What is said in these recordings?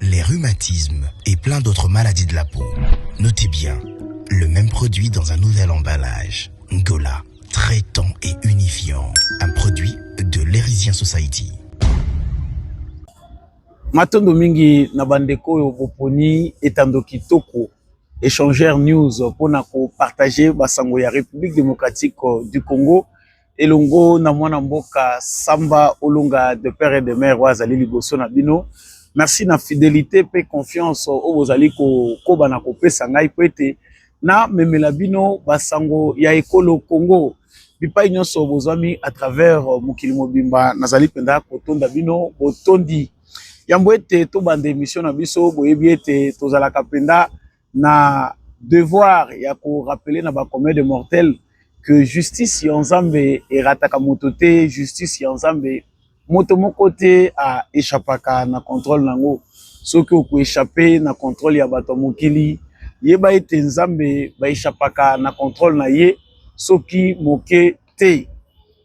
les rhumatismes et plein d'autres maladies de la peau. Notez bien, le même produit dans un nouvel emballage. Ngola, traitant et unifiant. Un produit de l'Erisien Society. matondo mingi na bandeko oyo boponi etando kitoko échangeur news mpona kopartage basango ya république démocratique du congo elongo na mwana mboka Samba Olunga de père et de mère oyo azali liboso na bino. Merci na fidelité mpe confiance oyo bozali kokoba na kopesa ngai mpo ete namemela bino basango ya ekolo Congo bipai nyonso bozwami à travers mokili mobimba. Nazali mpenza kotonda bino botondi yambo ete tobanda emission na biso. Boyebi ete tozalaka mpenza na devoir ya ko rappeler na ba commun de mortel que justice ya Nzambe erataka moto te, justice ya Nzambe moto moko te a echappaka na controle nango. Soki oko echapper na controle ya bato ya mokili, yeba ete Nzambe ba echappaka na controle na ye soki moke te.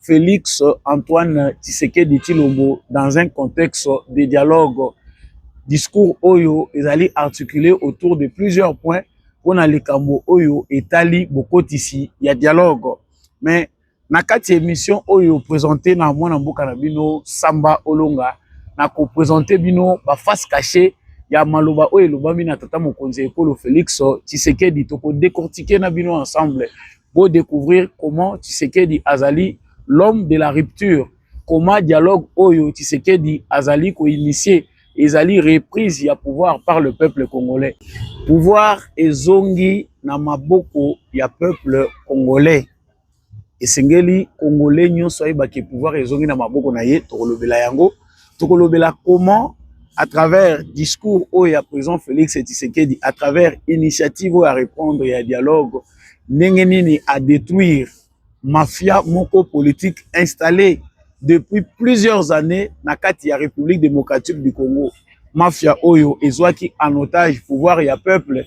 Felix Antoine Tshisekedi Tshilombo dans un contexte de dialogue. Discours oyo ezali articulé autour de plusieurs points mpo na likambo oyo etali bokotisi ya dialogue. Mais na kati ya émission oyo présente na mwana mboka na bino Samba Olonga na ko présenter bino ba face cachée ya maloba oyo elobami na tata mokonzi ya ekolo Felix Tshisekedi toko décortiquer na bino ensemble bo decouvrir comment Tshisekedi azali l'homme de la rupture comment dialogue oyo Tshisekedi azali ko initier ezali reprise ya pouvoir par le peuple congolais pouvoir ezongi na maboko ya peuple congolais esengeli congolais nyonso ayeba ke pouvoir ezongi na maboko na ye tokolobela yango tokolobela comment à travers discours oyo ya président Félix Tshisekedi à travers initiative oyo ya répondre ya dialogue ndenge nini a detruire mafia moko politique installe depuis plusieurs années na kati ya République démocratique du Congo mafia oyo ezwaki en otage pouvoir ya peuple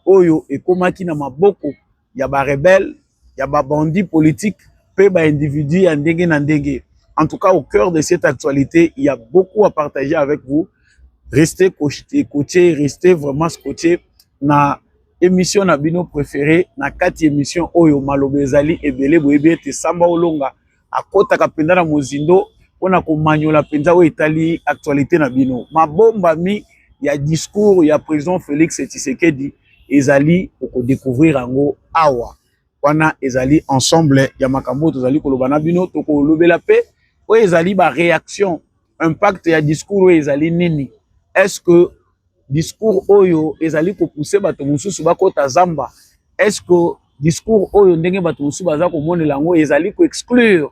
oyo ekomaki na maboko ya ba rebelles ya ba bandits politiques pe ba individus ya ndenge na ndenge en tout cas au cœur de cette actualité il y a beaucoup à partager avec vous restez coaché restez vraiment scotché na Emission na bino prefere na kati emission oyo maloba ezali ebele boyebi ete Samba Olonga akotaka mpenza na mozindo mpo na komanyola mpenza oyo etali actualité na bino. Mabombami ya discours ya president Felix Tshisekedi ezali okodécouvrir yango awa. Wana ezali ensemble ya makambo oyo tozali koloba na bino, tokolobela mpe oyo ezali ba réaction impact ya discours oyo ezali nini est ce que discours oyo ezali kopousse bato mosusu bakota zamba est ce que discours oyo ndenge bato mosusu baza komonela yango ezali koexclure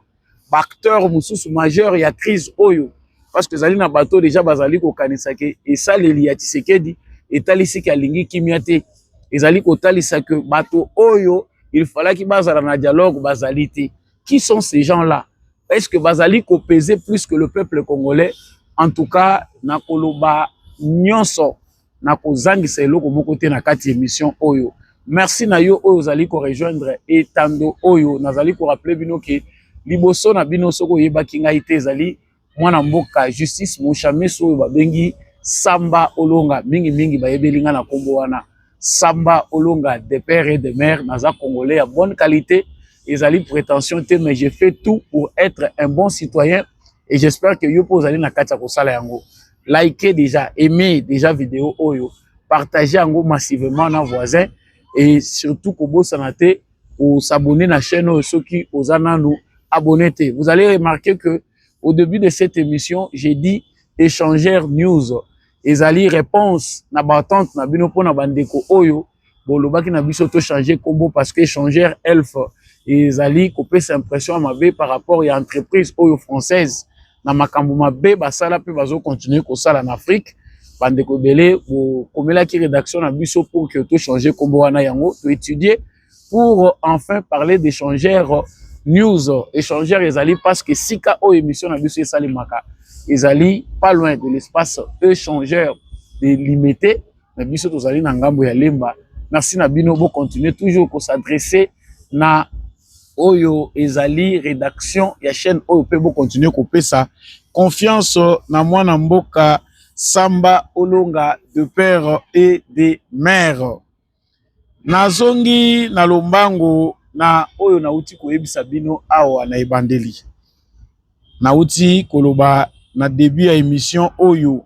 baacteur mosusu majeur ya crise oyo parce que ezali na bato deja bazali kokanisa ke esaleli ya tshisekedi etalisi ke alingi kimia te ezali kotalisa ke bato oyo il falaki bazala na dialogue bazali te Qui sont ces gens-là? Est-ce que bazali ko peser plus que le peuple congolais? En tout cas, na koloba nyonso na kozangisa eloko moko te na kati émission oyo. Merci na yo oyo ozali ko rejoindre etando oyo nazali ko rappeler bino ke liboso na bino soko oyebaki ngai te ezali mwana mboka justice moshameso oyo babengi samba olonga mingi mingi bayebeli nga na kombo wana samba olonga de père et de mère naza congolais ya bonne qualité ezali prétention te mais je fais tout pour être un bon citoyen et j'espère que yo mpe ozali na kati ya kosala yango like déjà aime déjà video oyo partage yango massivement na voisin et surtout kobosana te au s'abonner na chaîne oyo soki oza nanu abonné te. Vous allez remarquer que au début de cette émission, j'ai dit échanger news ezali réponse na batante na bino pona bandeko oyo bolobaki na biso to changer combo parce que échanger elf ezali kopesa impression ya mabe par rapport ya entreprise oyo française na makambo mabe basala mpe bazo continuer kosala na afrique bandeko ebele bokomelaki rédaction na biso pour que tochange nkombo wana yango toétudie pour enfin parler d'échanger news échangeur ezali parce que sika oyo émission na biso esalemaka ezali pas loin de l'espace échangeur de limité na biso tozali na ngambo ya lemba merci na bino bocontinue toujours kosadresse na oyo ezali redaction ya chaîne oyo pe bo continuer kopesa confiance na mwana mboka Samba Olonga de père et de mère. Nazongi na lombango na oyo nauti koyebisa bino awa na ebandeli. Nauti koloba na debut ya emission oyo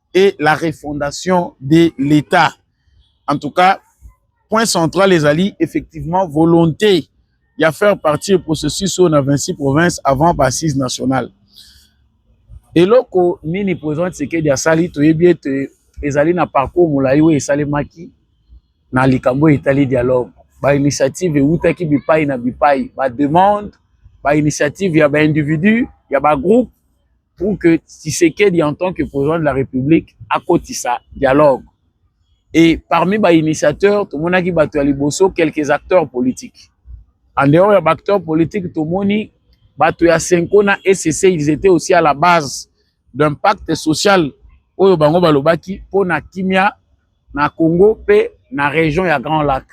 et la refondation de l'Etat. En tout cas, point central ezali effectivement volonté ya faire partie processus oyo na 26 provinces avant ba assises nationales. Eloko nini président Tshisekedi asali toyebi ete ezali na parcours molai oyo esalemaki na likambo etali dialogue. Ba initiative ewutaki bipai na bipai, ba demande, ba initiative ya ba individu, ya ba groupe pour que Tshisekedi en tant que président de la République akotisa dialogue. Et parmi ba initiateurs, tomonaki bato ya liboso quelques acteurs politiques. En dehors ya ba acteurs politiques, tomoni bato ya Senko na ECC, ils étaient aussi à la base d'un pacte social oyo bango balobaki mpo na kimia na Congo pe na region ya Grand Lac.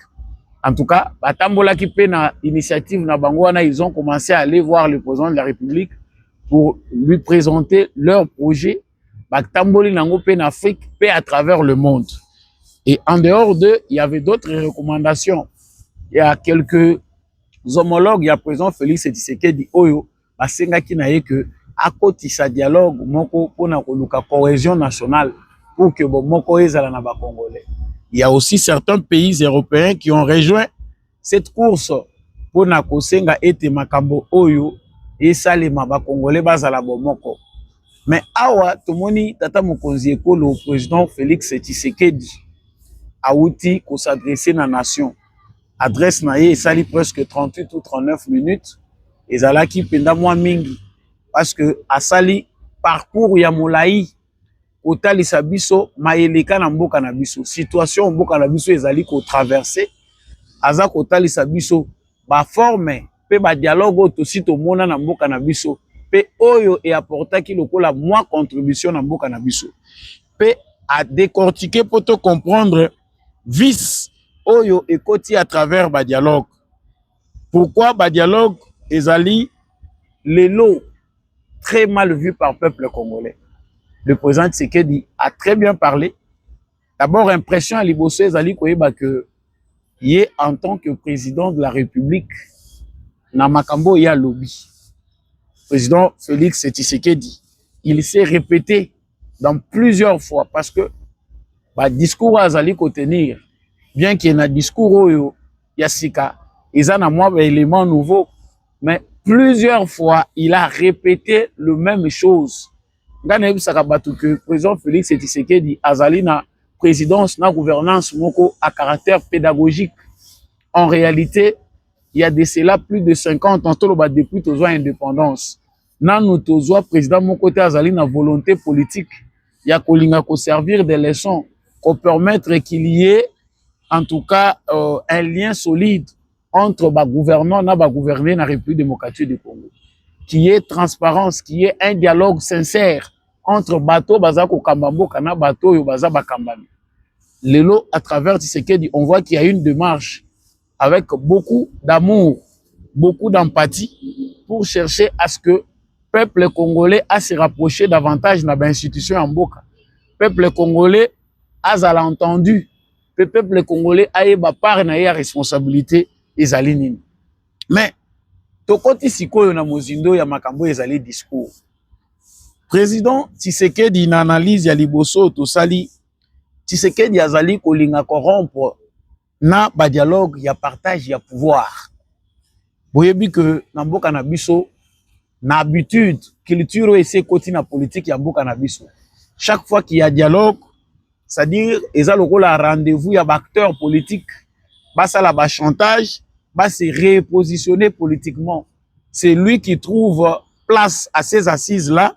En tout cas, batambolaki pe na initiative na bango wana, ils ont commencé à aller voir le président de la République pour lui présenter leur projet. Batamboli nango pe na Afrique pe à travers le monde. Et en dehors d'eux, il y avait d'autres recommandations. Il y a quelques homologues, il y a président Félix Tshisekedi Oyo, basengaki na ye que akotisa dialogue moko mpo na koluka cohesion nationale pour que bomoko ezala na bacongolais il y a aussi certains pays européens qui ont rejoint cette course mpo na kosenga ete makambo oyo esalema bacongolais bazala bomoko mais awa tomoni tata mokonzi ekolo président félix tshisekedi awuti kosadresse na nation adresse na ye esali presque 38 ou 39 minutes ezalaki mpenza mwa mingi parce que asali parcours ya molai kotalisa biso mayeleka na mboka na biso situation mboka na biso ezali kotraverse aza kotalisa biso baforme mpe badialogue oyo tosi tomona na mboka na biso mpe oyo eaportaki lokola mwa contribution na mboka na biso mpe adecortike mpo to comprendre vice oyo ekoti à travers ba dialogue pourquoi ba dialogue ezali lelo très mal vu par peuple congolais le président Tshisekedi a très bien parlé d'abord impression ya liboso ezali koyeba que ye en tant que président de la république na makambo ya lobby président Félix Tshisekedi il s'est répété dans plusieurs fois parce que ba discours azali ko tenir bien que na discours oyo ya sika eza na mwa ba élément nouveau mais plusieurs fois il a répété le même chose nga nayebisaka bato que président Félix Tshisekedi azali na présidence na gouvernance moko à caractère pédagogique en réalité il y a de cela plus de 50 ans toloba depuis tozwa indépendance nanu tozwa president moko te azali na volonté politique ya kolinga ko servir de leçon ko permettre qu'il y ait en tout cas euh, un lien solide entre ba gouvernants na ba gouvernés na République démocratique du Congo qui est transparence qui est un dialogue sincère entre bato baza kokamba mboka na bato oyo baza bakambami lelo à travers Tshisekedi on voit qu'il y a une démarche avec beaucoup d'amour, beaucoup d'empathie pour chercher à ce que peuple congolais a se rapprocher davantage na ba institutions ya mboka. Peuple congolais azala entendu pe peuple congolais ayeba part na ye ya responsabilité ezali nini. Mais tokoti sikoyo na mozindo ya makambo ezali discours. Président Tshisekedi na analyse ya liboso tosali Tshisekedi azali kolinga corrompre na ba dialogue ya partage ya pouvoir boyebi que na mboka na biso na habitude culture oyo esi ekoti na politique ya mboka na biso chaque fois qu'il y a dialogue c'est-à-dire eza lokola rendez-vous ya baacteur politique basala bachantage base repositionner politiquement c'est lui qui trouve place à ses assises là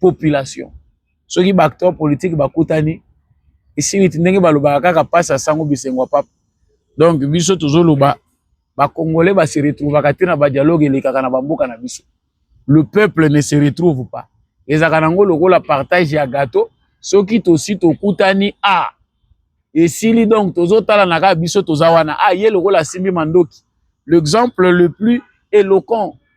population soki ba acteur politique bakutani esiliti ndenge balobaka kaka mpasi ya sango bisengo ya papa donc biso tozoloba bakongole base retrouvaka te na badialogue elekaka na bamboka na biso le peuple ne se retrouve pas ezalaka nango lokola partage ya gato soki tosi tokutani a ah, esili donc tozotalana kaka biso toza wana a ah, ye lokola asimbi mandoki l'exemple le plus éloquent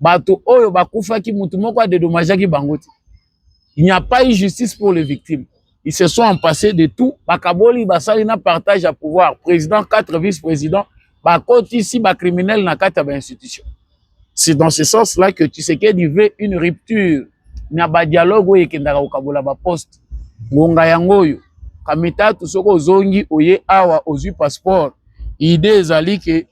bato oyo bakufaki moto moko adedomajaki bango te il n'y a pas eu justice pour les victimes ils se sont empassés de tout bakaboli basali na partage ya pouvoir président quatre vice président bakotisi bacriminel na kati ya bainstitution c'est dans ce sens là que tshisekedi veut une rupture na badialogue oyo ekendaka kokabola baposte ngonga yango oyo kamitatu soki ozongi oye awa ozwi passeport idée ezali ke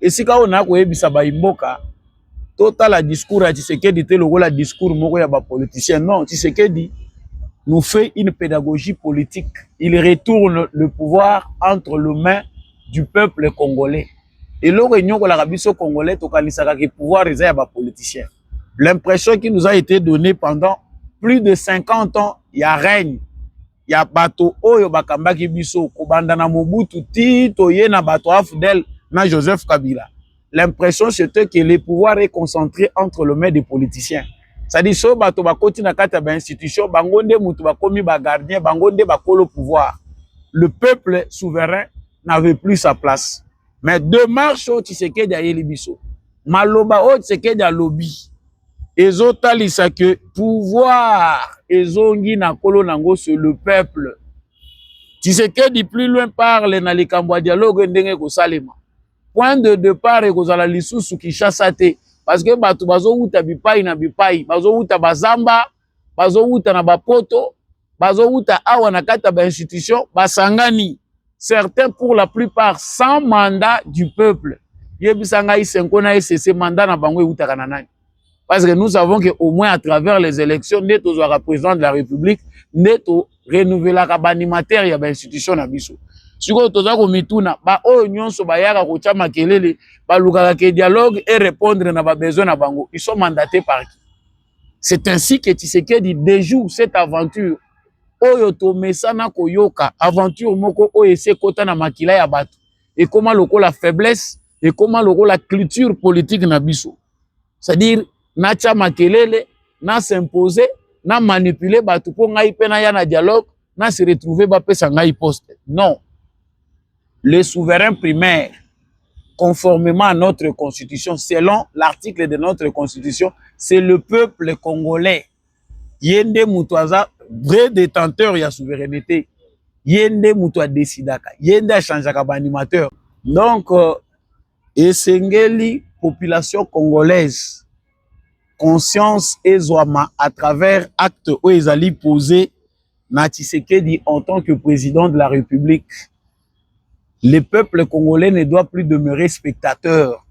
esika oyo na koyebisa bayi mboka totala discours ya Tshisekedi te lokola discours moko ya ba politiciens non Tshisekedi nous fait une pédagogie politique. Il retourne le pouvoir entre les mains du peuple congolais. Et là, réunion la Arabie congolais, tout le pouvoir est à politicien. L'impression qui nous a été donnée pendant plus de 50 ans, il y a règne ya bato oyo bakambaki biso kobanda na Mobutu ti toye na bato Afdel na Joseph Kabila l'impression c'était que le pouvoir est concentré entre le maire des politiciens c'est-à-dire so bato bakoti na kati ya ba institution bango nde moto bakomi ba gardien bango nde bakolo pouvoir le peuple souverain n'avait plus sa place mais demarche oyo Tshisekedi ayeli biso maloba oyo Tshisekedi alobi ezotalisa que pouvoir ezongi na kolo nango sur le peuple Tshisekedi plus loin parle na likambo ya dialogue ndenge ekosalema point de départ ekozala lisusu Kinshasa te parce que bato bazowuta bipai na bipai bazowuta bazamba bazowuta na bapoto bazowuta awa na kati ya ba institution basangani certains pour la plupart sans mandat du peuple yebisa ngai senko na esese mandat na bango ewutaka na nani parce que nous savons que au moins à travers les élections nde tozwaka président de la république nde to renouvelaka baanimateur ya bainstitution na biso sikoyo toza komituna baoyo nyonso bayaka kotya makelele balukaka ke dialogue e répondre na babesoin na bango ils sont mandaté par qui C'est ainsi que Tshisekedi déjoue cette aventure oyo tomesana koyoka aventure moko oyo esi ekota na makila ya bato ekoma lokola faiblesse ekoma lokola culture politique na biso c'est-à-dire natya makelele na s'impose na manipule bato mpo ngai mpe naya na dialogue na se retrouve bapesa ngai poste non le souverain primaire, conformément à notre constitution, selon l'article de notre constitution, c'est le peuple congolais. Yende Mutuaza, vrai détenteur ya souveraineté. Yende Mutua décidaka. Yende a changé animateur. Donc, euh, esengeli population congolaise conscience ezwama à travers acte oyo ezali posé na Tshisekedi en tant que président de la République, le peuple congolais ne doit plus demeurer spectateur.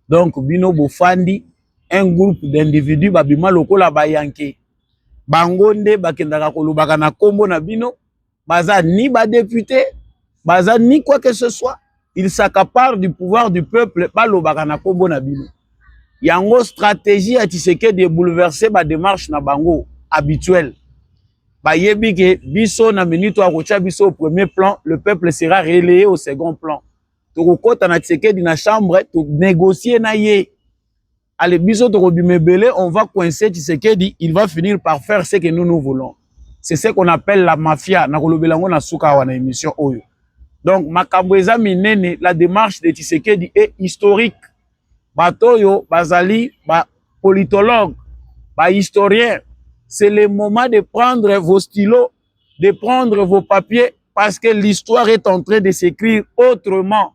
Donc, Bino Bofandi, un groupe d'individus, Babima Lokola Bayanke, Bangonde, Bakendaka Kolobaka na Kombo na Bino, Baza ni ba député, Baza ni quoi que ce soit, il s'accapare du pouvoir du peuple balobaka na kombo na bino yango stratégie ya Tshisekedi de bouleverser ba démarche na bango habituelle bayebi ke biso na minute ya kotya biso au premier plan le peuple sera relayé au second plan tokokɔta na Tshisekedi na chambre to négocier na ye Allez, biso tokobima ebele, on va coincer Tshisekedi, il va finir par faire ce que nous nous voulons. C'est ce qu'on appelle la mafia. Nakolobela ngo na suka wana émission oyo. Donc makambo eza minene, la démarche de Tshisekedi est historique. Bato oyo bazali ba politologues, ba historiens. C'est le moment de prendre vos stylos, de prendre vos papiers parce que l'histoire est en train de s'écrire autrement.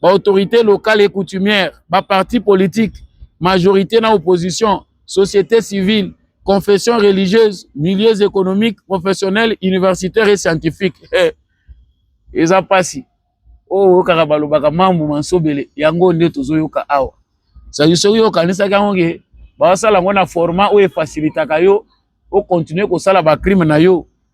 ba autorités locales et coutumières, ba partis politiques, majorité na opposition, société civile, confessions religieuses, milieux économiques, professionnels, universitaires et scientifiques. Eh, eza pasi. Oh, oyokaka balobaka mambu mansobele, yango nde tozoyoka awa. Sadi soki yokanisaki yango ke basala yango na format oyo efasilitaka yo okontinue kosala bacrime na yo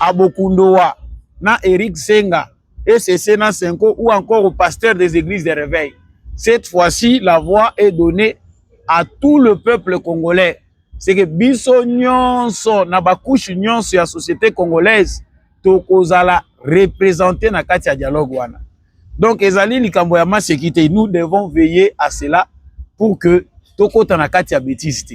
Abokundoa na Eric Senga, ECC na Senko ou encore au pasteur des églises de réveil. Cette fois-ci, la voix est donnée à tout le peuple congolais. C'est que biso nyonso na ba couche nyonso ya société congolaise tokozala représenter na kati ya dialogue wana. Donc ezali likambo ya maseki te. Nous devons veiller à cela pour que tokota na kati ya bêtise te.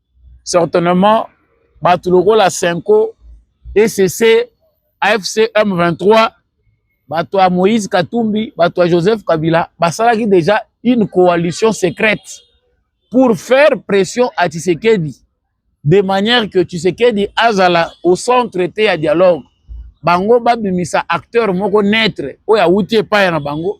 certainement bato lokola senko ecc afc m23 bato ya moïse katumbi bato ya joseph kabila basalaki déjà une coalition secrète pour faire pression à tshisekedi de manière que tshisekedi azala au centre te ya dialogue bango babimisa acteur moko neutre oyo awuti epai na bango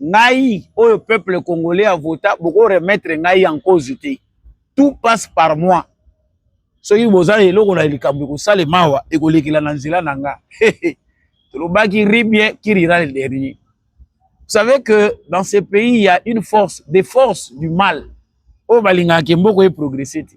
ngai oyo peuple congolais a vota boko remettre ngai en cause te tout passe par moi soki boza na eloko na likambo ekosalema awa ekolekela na nzela na nga tolobaki ribien qui rira le dernier vous savez que dans ce pays il y a une force des forces du mal oyo balingaka ke mboko eprogresse te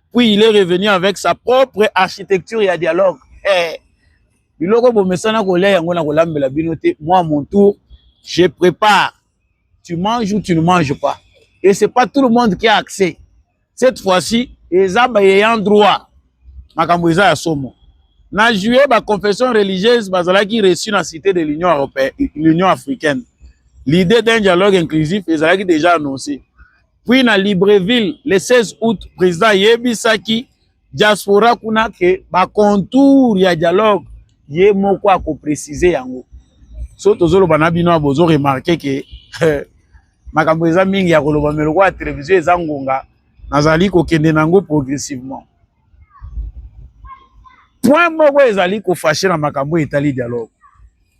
puis il est revenu avec sa propre architecture ya dialogue eh, biloko bomesana kolia yango na kolambela bino te moi mon tour je prépare tu manges ou tu ne manges pas et c'est pas tout le monde qui a accès cette fois-ci eza bayeyant droit makambo eza ya somo na juillet baconfession religieuse bazalaki reçu na cité de l'union européenne l'union africaine l'idée d'un dialogue inclusif ezalaki déjà annoncé Puis na Libreville le 16 août président yebisaki diaspora kuna ke ba contour ya dialogue ye moko ako préciser yango. So tozoloba na bino bozo remarquer ke makambo eza mingi ya koloba mais lokola télévision eza ngonga nazali kokende na yango progressivement. Point moko ezali kofashe na makambo etali dialogue.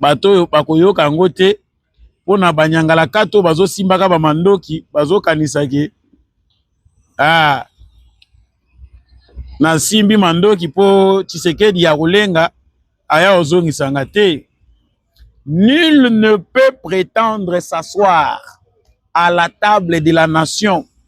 bato oyo bakoyoka yango te mpo na banyangalakata oyo bazosimbaka bamandoki bazokanisa ke ah, nasimbi mandoki mpo tshisekedi ya kolenga aya ozongisa nga te nul ne peut prétendre s'asseoir à la table de la nation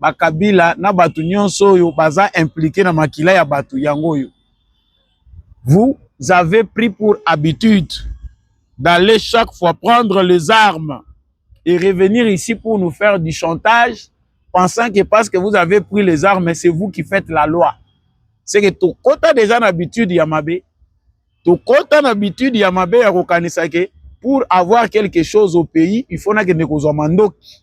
bakabila na bato nyonso oyo baza implike na makila ya bato yango oyo vous avez pris pour habitude d'aller chaque fois prendre les armes et revenir ici pour nous faire du chantage pensant que parce que vous avez pris les armes c'est vous qui faites la loi c'est que tokota déjà na habitude ya mabe tokota na habitude ya mabe ya kokanisa ke pour avoir quelque chose au pays il faut nakende kozwa mandoki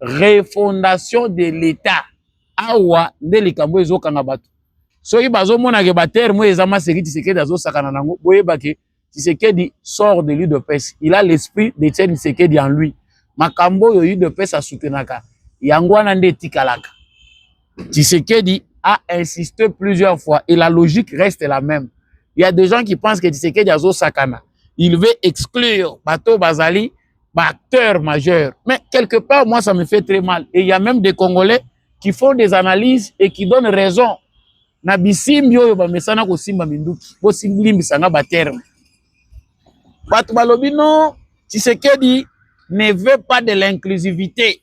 refondation de l'etat awa nde likambo ezokanga bato soki bazomona ke baterme oyo eza maseki tisekedi azosakana na yango boyeba ke tisekedi sort de l'udps il a l'esprit de tiene tisekedi en lui makambo oyo udps asoutenaka yango wana nde etikalaka tisekedi a insisté plusieurs fois et la logique reste la même il y a des gens qui pensent que tisekedi azosakana il veut exclure bato bazali ba acteurs majeurs. Mais quelque part, moi, ça me fait très mal. Et il y a même des Congolais qui font des analyses et qui donnent raison. Na bisimbi oyo bamesana kosimba minduki bosimbisa nga baterme bato balobi non tshisekedi ne veut pas de l'inclusivité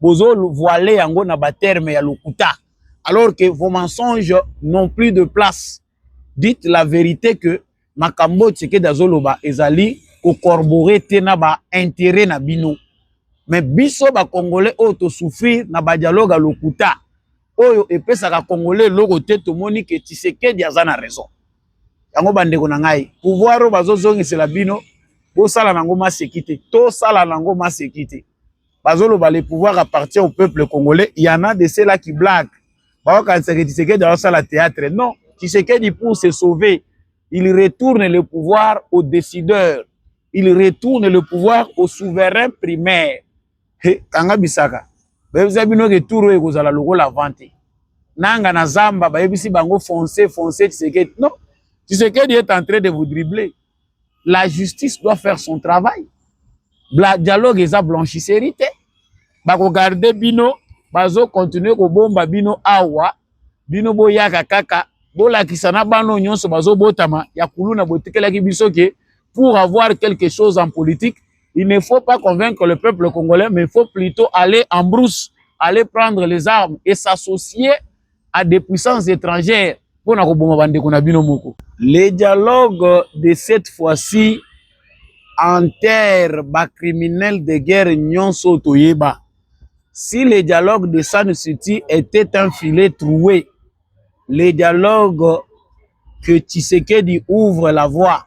bozo voile yango na ba terme ya lokuta alors que vos mensonges n'ont plus de place dites la vérité que makambo tshisekedi azoloba ezali kocorborer te na ba intérêt na bino mais biso bakongolais oyo tosouffrir na badialogue ya lokuta oyo epesaka congolais eloko te tomoni ke tshisekedi aza na raison yango bandeko na ngai pouvoir oyo bazozongisela bino bosala nango maseki te tosala nango maseki te bazoloba le pouvoir appartient au peuple congolais il y en a de cela qui blague baokanisaka tshisekedi aosala théâtre non tshisekedi pour se sauver il retourne le pouvoir au décideur il retourne le pouvoir au souverain primaire he kanga bisaka bayebisa bino ke tour oyo ekozala lokola vante nanga na zamba bayebisi bango fonce fonce tshisekedi non tshisekedi est en train de vous dribbler la justice doit faire son travail Bla, dialogue eza blanchisserie te bakogarde bino bazokontinue kobomba bino awa bino boyaka kaka bolakisa na bano nyonso bazobotama ya kuluna botikelaki biso ke pour avoir quelque chose en politique il ne faut pas convaincre le peuple congolais mais il faut plutôt aller en brousse aller prendre les armes et s'associer à des puissances étrangères mpo na koboma bandeko na bino moko. Le dialogue de cette fois-ci enterre ba criminels de guerre nyonso toyeba. Si le dialogue de San City était un filet troué, le dialogue que Tshisekedi ouvre la voie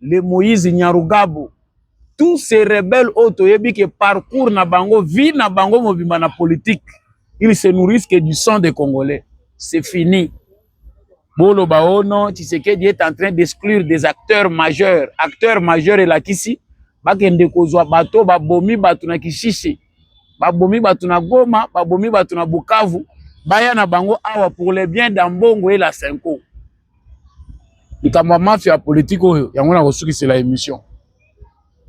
le moïse nyarugabu tous ces rebelles oyo toyebi ke parcours na bango vie na bango mobimba na politique ils se nourrissent que du sang des congolais c'est fini boloba o oh non tshisekedi est en train d'exclure des acteurs majeurs acteurs majeurs elakisi bakende kozwa bato babomi bato na kishishi babomi bato na goma babomi bato na bukavu baya na bango awa pour le bien d'ambongo et la senko likambo ya mafia ya politike oyo yango na kosukisela émission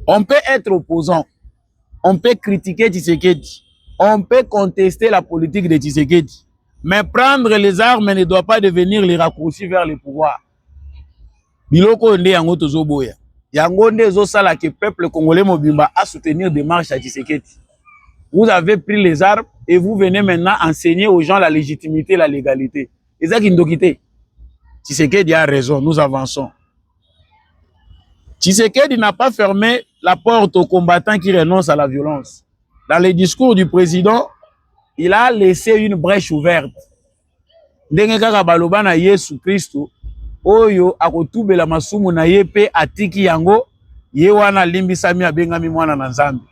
on peut être opposant on peut critiquer Tshisekedi on peut contester la politique de Tshisekedi mais prendre les armes ne doit pas devenir les raccourcis vers le pouvoir biloko oyo nde yango tozoboya yango nde ezosala ke peuple congolais mobimba a soutenir démarche ya Tshisekedi vous avez pris les armes et vous venez maintenant enseigner aux gens la légitimité la légalité eza kindoki te Tshisekedi a raison nous avançons Tshisekedi n'a pas fermé la porte aux combattants qui renoncent à la violence dans le discours du président il a laissé une brèche ouverte ndenge kaka baloba na Yesu Kristo oyo akotubela masumu na ye mpe atiki yango ye wana alimbisami abengami mwana na nzambe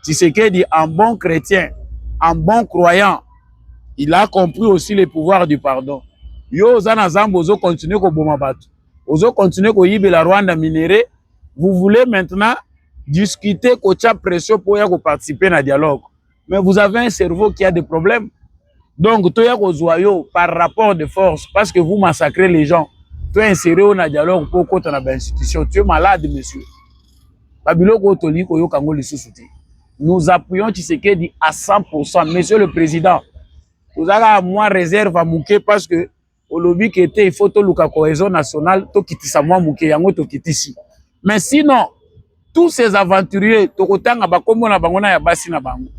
tisekedi en bon chrétien en bon croyant il a compris aussi le pouvoir du pardon yo oza na zamba ozo continuer koboma bato ozo continuer koyibela rwanda minere vous voulez maintenant discuter kotya pression mpo ya koparticiper na dialogue mais vous avez un cerveau qui a des problèmes donc toya kozwa yo par rapport de force parce que vous massacrez les gens to insere yo na dialogue mpo okota na bainstitution tu es malade monsieur babiloko oyo tolingi koyoka yango lisusu te nous appuyons tshisekedi à 100 monsieur le président tozalaka mwa réserve ya moke parce que olobi ke te il faut toluka cohesion nationale tokitisa mwa moke yango tokitisi mais sinon tous ces aventuriers tokotanga bakombo na bango na ya basi na bango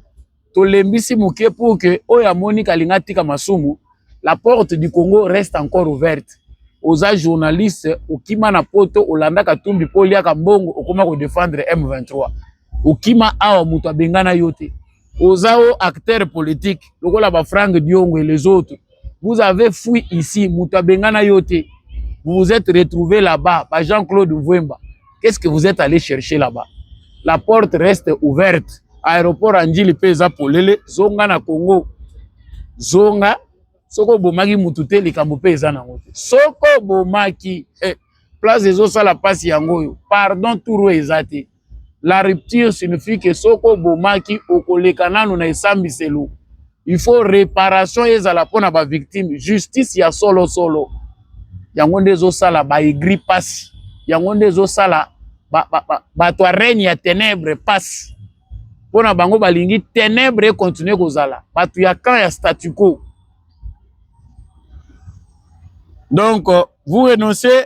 tolembisi moke pour que oyo amoni kalinga atika masumu la porte du congo reste encore ouverte oza journaliste okima na poto olanda katumbi mpo oliaka mbongo okoma kodefendre m23 okima awa moto abengana yo te oza o acteur politique lokola ba frank diongo et les autres vous avez fui ici moto abengana yo te vous vous êtes retrouvé là-bas ba jean claude mvwemba qu'est-ce que vous êtes allé chercher là-bas la porte reste ouverte aéroport ya njili mpe eza polele zonga na congo zonga soki obomaki motu te likambo mpe eza nango te soki obomaki eh, place ezosala mpasi yango oyo pardon tour oyo eza te la rupture signifie que soki obomaki okoleka nanu na esambiselo il faut reparation ezala mpo na bavictime justice ya solo solo yango nde ezosala baegri mpasi yango nde ezosala bato ya règne ya ténèbre mpasi mpo na bango balingi ténèbre ekontinue kozala bato ya camp ya statu quo donc vous renoncez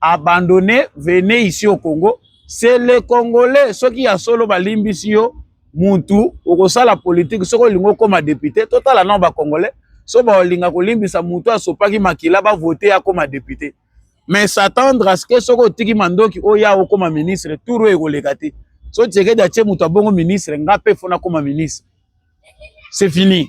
abandonne venez ici au Congo c'est le congolais soki ya solo balimbisi yo mutu okosala politique soki olingi okoma député totala nao bacongolais so baolinga kolimbisa mutu asopaki makila bavote akoma député mais s'attendre à ce que soki otiki mandoki oya okoma ministre tour oyo ekoleka te so tshiekedi atie mutu abongo ministre nga mpe fona koma ministre c'est fini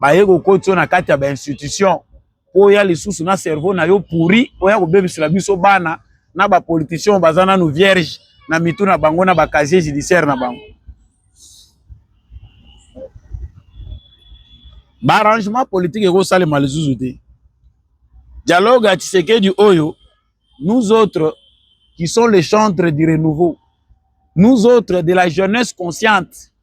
baye kokoti yo na kati ya bainstitution mpo oya lisusu na cerveau na yo pourri oya kobebisela biso bana na bapoliticien baza nanu vierge na mitu na bango na bacasier judiciaire na bango baarrangement politique ekosalema lisusu te dialogue ya tshisekedi oyo nous autres qui sont les chantres du renouveau nous autres de la jeunesse consciente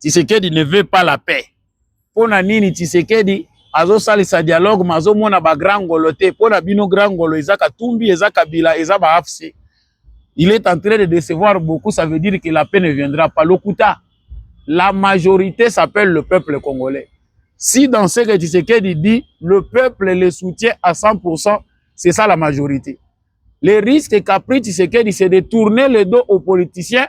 Tshisekedi ne veut pas la paix. Pona nini Tshisekedi azosalisa dialogue ma azomona ba grand ngolo te mpo na bino grand ngolo eza katumbi eza kabila eza ba afc il est en train de décevoir beaucoup ça veut dire que la paix ne viendra pas lokuta la majorité s'appelle le peuple congolais si dans ce que Tshisekedi dit le peuple le soutient à 100% c'est ça la majorité le risque qu'a pris Tshisekedi c'est de tourner le dos aux politiciens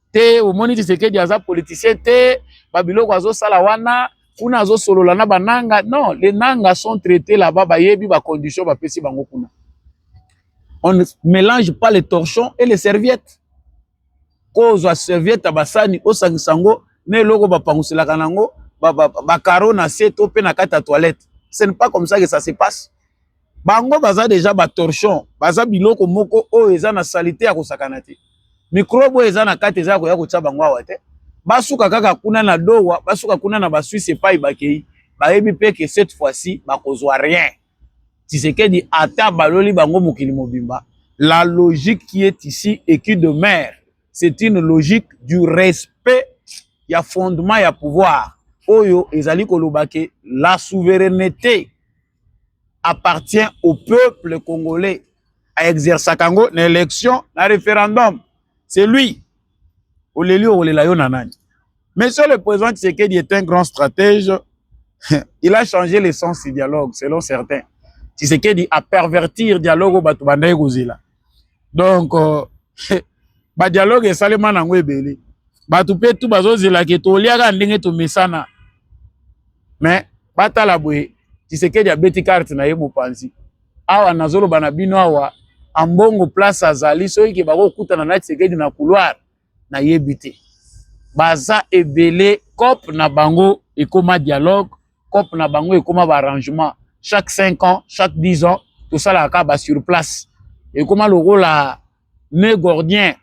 te omoni Tshisekedi aza politicien te babiloko azosala wana kuna azosolola na bananga non les nanga sont traités là-bas bayebi bacondition bapesi bango kuna on ne mélange pas les torchons et les serviettes ko ozwa serviette ya basani osangisa yango na eloko bapanguselaka na yango bakaro na se to mpe na kati ya toilette ce n'est pas comme ça que ça se passe bango baza deja ba torchon baza biloko moko oyo eza na salite ya kosakana te mikrobe oyo eza na kati eza ya koya kotya bango awa te basuka kaka kuna na dowa basuka kuna na basuisse epai bakei bayebi mpe ke cette fois-ci bakozwa rien tisekedi ata baloli bango mokili mobimba la logique qui est ici et qui demeure c'est une logique du respect ya fondement ya pouvoir oyo ezali koloba ke la souveraineté appartient au peuple congolais a exercer kango na élection na référendum c'est lui oleli okolela yo na nani monsieur le président Tshisekedi est un grand stratège il a changé le sens du dialogue selon certains Tshisekedi a pervertir dialogue bato bandaki kozela donc ba dialogue esalema nango ebele bato mpe tu bazozela ke toliaka ndenge tomesana mais batala boye tisekedi abeti karte na ye mopanzi awa nazoloba na bino awa ambongo place azali soki ke bakokutana na tisekedi na couloir nayebi te baza ebele cop na bango ekoma dialogue cop na bango ekoma baarrangement chaque 5 ans chaque 10 ans tosalaka kaka basurplace ekoma lokola ne gordien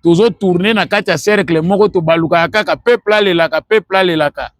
tozotourne na kati ya cercle moko tobalukaka kaka peuple alelaka peuple alelaka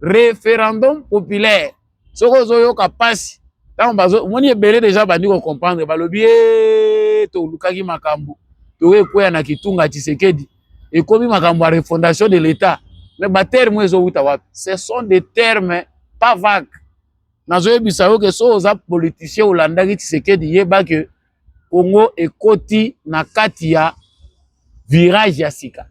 referendum populaire soki ozoyoka mpasi ntango bazo omoni ebele deja bandi kocomprendre balobi e tolukaki makambo toyo ekweya na kitunga tisekedi ekomi makambo ya refondation de l'etat mais baterme ezowuta wapi ce sont des termes pas vague nazoyebisa yo ke so oza politicien olandaki tisekedi yeba ke congo ekoti na kati ya virage ya sika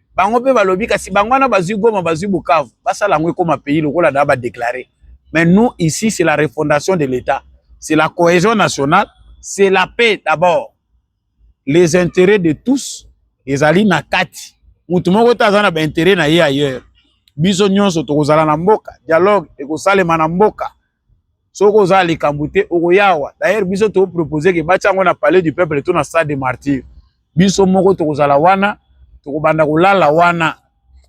bango mpe balobi kasi bango wana bazwi goma bazwi bukavu basala yango ekoma pays lokola na badeklare mais nous ici c'est la refondation de l'état c'est la cohésion nationale c'est la paix d'abord les intérêts de tous ezali na kati motu moko te aza na baintérêt na ye ailleurs biso nyonso tokozala na mboka dialogue ekosalema na mboka soki oza likambo te okoyawa d'ailleurs biso to proposer ke batia yango na palais du peuple to na stade de martyr biso moko tokozala wana tokobanda kolala wana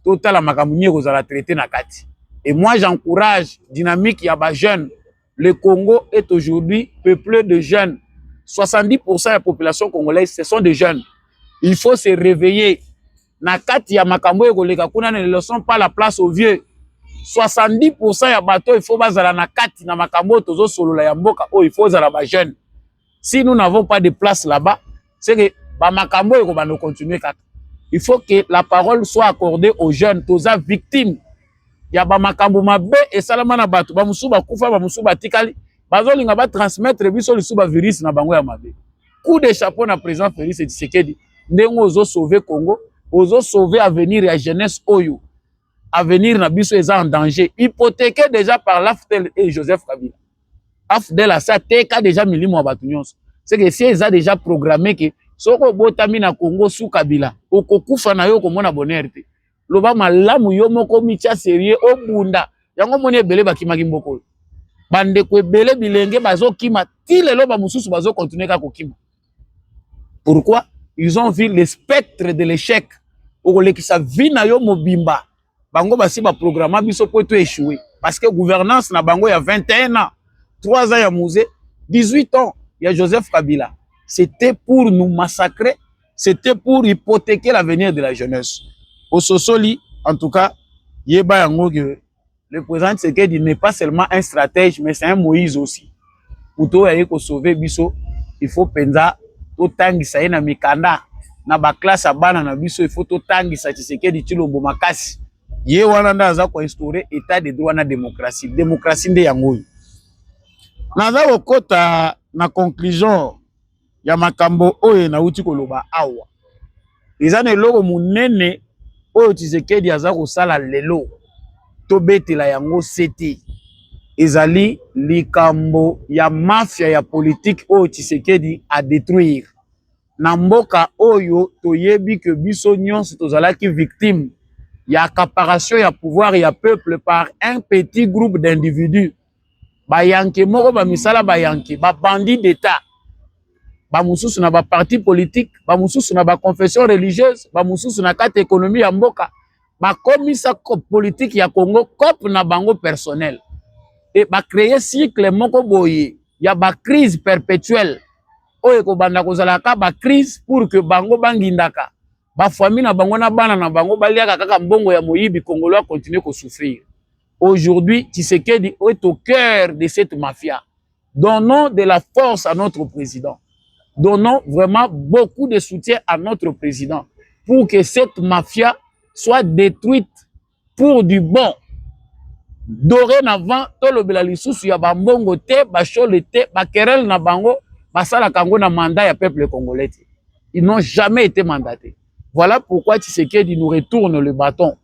totala makambo nini ekozala traité na kati et moi j'encourage dynamique ya ba jeunes le Congo est aujourd'hui peuplé de jeunes 70% ya population congolaise ce sont des jeunes il faut se réveiller na kati ya makambo oyo ekoleka kuna ne le sont pas la place au vieux 70% ya bato il faut bazala na kati na makambo oyo tozosolola ya mboka oyo il faut ozala ba jeune si nous n'avons pas de place là-bas c'est que bamakambo oyo ekobanda continue kaka il faut que la parole soit accordée aux jeunes toza victime ya bamakambo mabe esalama na bato bamosusu bakufa bamosusu batikali bazolinga batransmettre biso lisusu bavirus na bango ya mabe coup de chapeau na président Félix Tshisekedi ndenge ozo sauver Congo ozo sauver avenir ya jeunesse oyo avenir na biso eza en danger hypothéqué déjà par l'AFDEL et Joseph Kabila AFDEL asi ateka déjà milimo ya bato nyonso seke si eza déjà programme ke soki obotami na Congo su Kabila okokufa na yo okomona bonheur te loba malamu yo moko omitya serieux obunda yango omoni ebele bakimaki mboka oyo bandeko ebele bilenge bazokima ti lelo bamosusu bazokontinue kaka kokima pourquoi ils ont vu le spectre de l'échec okolekisa vie na yo mobimba bango basi baprograma biso mpo to échoué parce que gouvernance na bango ya 21 ans 3 ans ya musée 18 ans ya joseph kabila c'était pour nous massacrer c'était pour hypothéquer l'avenir de la jeunesse ososoli en tout cas yeba yango que le président Tshisekedi n'est pas seulement un stratège mais c'est un Moïse aussi moto oyo aye kosauve biso il faut mpenza totangisa ye na mikanda na baklasse ya bana na biso il faut totangisa Tshisekedi Tshilombo makasi ye wana nde aza koinstaure état de droit na démocratie démocratie nde yango oyo naza kokota na conclusion ya makambo oyo nauti koloba awa eza na eloko monene oyo Tshisekedi aza kosala lelo tobetela yango sete ezali likambo ya mafia ya politiki oyo Tshisekedi a detruire na mboka oyo toyebi ke biso nyonso tozalaki victime ya accaparation ya pouvoir ya peuple par un petit groupe d'individus bayanke moko bamisala bayanke babandi d'etat bamosusu na baparti politique bamosusu na baconfession religieuse bamosusu na kati ekonomi ya mboka bakomisa politike ya congo cope na bango personnel e bacreye cycle moko boye ya bacrise perpétuelle oyo ekobanda kozala kaka bacrise pour que bango bangindaka bafami na bango na bana na bango baliaka kaka mbongo ya moyibi kongolo akontinue kosouffrir Aujourd'hui, Tshisekedi est au cœur de cette mafia. Donnons de la force à notre président. Donnons vraiment beaucoup de soutien à notre président pour que cette mafia soit détruite pour du bon. Dorénavant, tolobela lisusu ya bambongo te, bashole te, bakerel na bango, basalaka yango na mandat ya peuple congolais. Ils n'ont jamais été mandatés. Voilà pourquoi Tshisekedi nous retourne le bâton.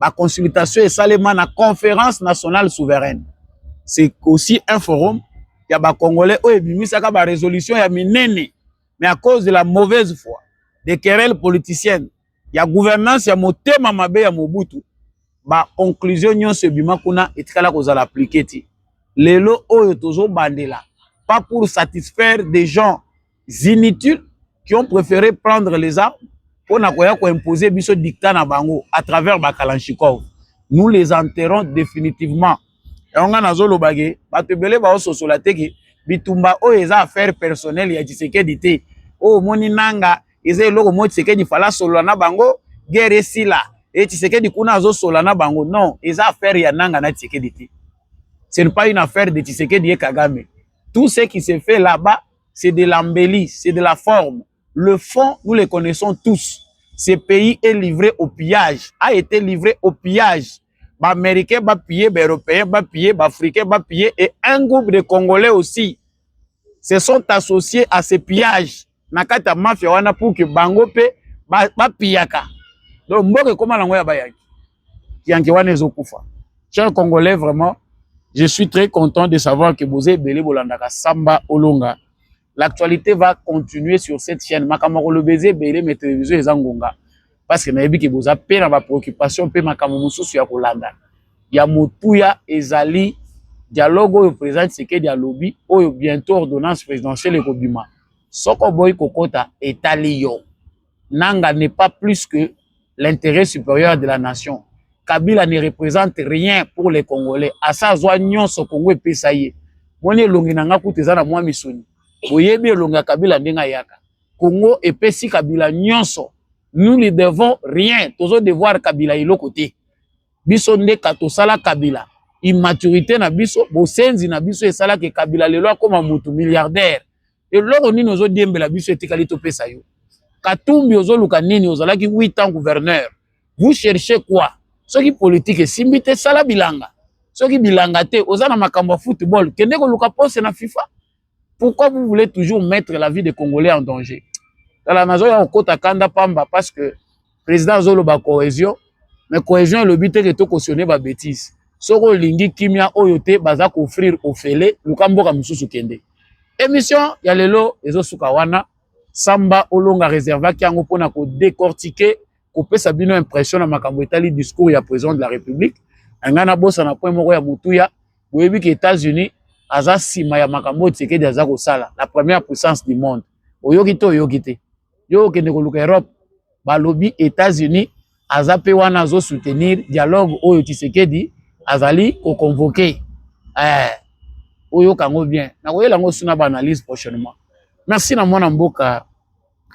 ba consultation esalema na conférence nationale souveraine c'est aussi un forum ya ba congolais oyo ebimisaka ba résolution ya minene mais à cause de la mauvaise foi des querelles politiciennes ya gouvernance ya motema mabe ya mobutu ba conclusion nyonso ebima kuna etikala kozala appliqué ti lelo oyo tozobandela pas pour satisfaire des gens inutiles qui ont préféré prendre les armes pour imposer biso dictat na bango à travers Bakalanchikov. Nous les enterrons définitivement. Et on a nazo lobage, batebele ba ososola te ke bitumba oyo eza affaire personnelle ya Tshisekedi te. Oh moni nanga eza eloko mo Tshisekedi fala solo na bango guerre sila. Et Tshisekedi kuna azo sola na bango. Non, eza affaire ya nanga na Tshisekedi te. Ce n'est pas une affaire de Tshisekedi et Kagame. Tout ce qui se fait là-bas c'est de l'embellie, c'est de la forme. Le fond, nous le connaissons tous. Ce pays est livré au pillage, a été livré au pillage. Ba Américains, ba pillés, ba Européens, ba pillés, ba Africains, ba pillés, et un groupe de Congolais aussi se sont associés à ce pillage. Nakata mafia wana pour que bango pe ba, ba pillaka. Donc mboka ekoma nango ya bayaki. kianke wana ezokufa cher congolais vraiment je suis très content de savoir que boza ebele bolandaka samba olonga l'actualité va continuer sur cette chaîne makambo akoloba eza ebele mais télévision eza ngonga parce que nayebi ke boza mpe na bapréoccupation mpe makambo mosusu ya kolanda ya motuya ezali dialogue oyo président tshisekedi alobi oyo bientôt ordonnance présidentielle ekobima soko oboyi kokota etali yo Nanga n'est pas plus que l'intérêt supérieur de la nation. Kabila ne représente rien pour les Congolais. Asa azwa nyonso Congo epesa ye. Moni elongi na nga kutu eza na mwa misuni. Boyebi elongi ya Kabila ndenge ayaka. Congo epesi Kabila nyonso. Nous ne devons rien. Tozo devoir Kabila eloko te. Biso nde katosala Kabila. Immaturité na biso, bosenzi na biso esalaki Kabila lelo akoma mutu milliardaire. eloko nini ozo diembela biso etikali topesa yo katumbi ozoluka nini ozalaki 8 ans gouverneur vous cherchez quoi soki politique esimbi te sala bilanga soki bilanga te oza na makambo ya football kende koluka poste na fifa pourquoi vous voulez toujours mettre la vie des congolais en danger tala nazoya kokota kanda pamba parce que Président azoloba cohésion, mais cohésion elobi te que to cautionner ba bêtises. Soki olingi kimia oyo te baza ko offrir ofele luka mboka mosusu kende. Émission ya lelo ezosuka wana. Samba olonga reservaki yango mpona ko décortiquer kopesa bino impression na makambo etali discours ya président de la république anga nabosana point moko ya motuya boyebi ke états-unis aza nsima ya makambo oyo tshisekedi aza kosala la première puissance du monde oyoki te oyoki te yo okende koluka Europe balobi Etats-Unis aza pe wana azo soutenir dialogue oyo Tshisekedi azali ko convoquer eh oyoka yango bien nakoyela yango suna ba analyse prochainement merci na mwana mboka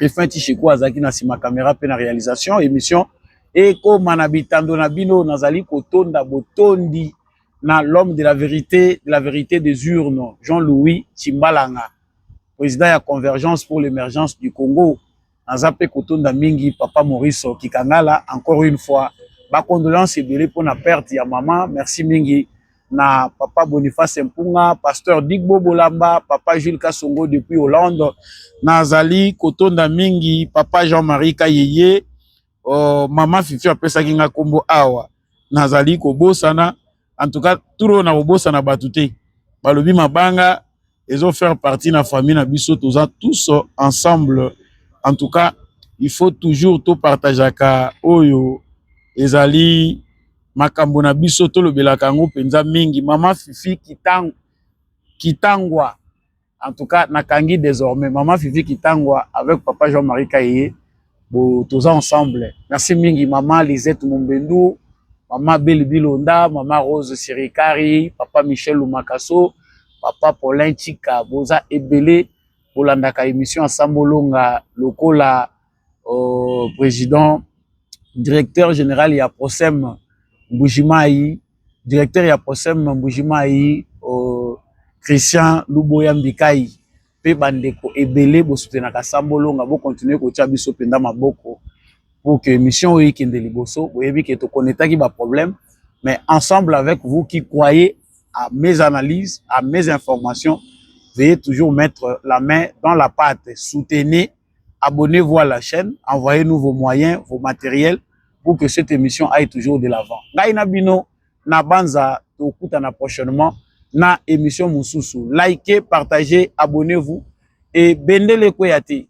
Efin Tishiko azalaki na sima kamera pe na realisation emission ekoma na bitando na bino nazali kotonda botondi na l'homme de la vérité de la vérité des urnes Jean-Louis Chimbalanga président ya convergence pour l'émergence du congo naza mpe kotonda mingi papa maurice kikangala encore une fois bacondoléance ebele mpo na perte ya mama merci mingi na papa boniface mpunga pasteur digbo bolamba papa jules kasongo depuis hollande nazali kotonda mingi papa jean marie kayeye oh, mama fifi apesaki nga kombo awa nazali kobosana en tout cas turo na kobosana bato te balobi mabanga ezo faire partie na famille na biso toza tous ensemble en tout cas il faut toujours topartageaka oyo ezali makambo na biso tolobelaka yango mpenza mingi mama fifi kitangwa En tout cas, nakangi désormais maman Fifi Kitangwa avec papa Jean-Marie Kaye, bo toza ensemble. Merci mingi maman Lisette Mumbendu, maman Beli Bilonda, maman Rose Sirikari, papa Michel Lumakaso, papa Paulin Chika, boza ebele bolandaka émission ya Sambolonga lokola au président directeur général ya Prosem Mbujimayi, directeur ya Prosem Mbujimayi au Christian Luboya Mbikai mpe bandeko ebele bosutenaka Sambo Longa bokontinue kotya biso mpenza maboko pour que émission oyo ekende liboso boyebi ke tokonetaki baproblème mais ensemble avec vous qui croyez à mes analyses à mes informations veuillez toujours mettre la main dans la pâte soutenez abonnez-vous à la chaîne, envoyez-nous vos moyens, vos matériels pour que cette émission aille toujours de l'avant. Ngai na bino na banza tokutana prochainement na émission mususu. Likez, partagez, abonnez-vous et bendele kweyate.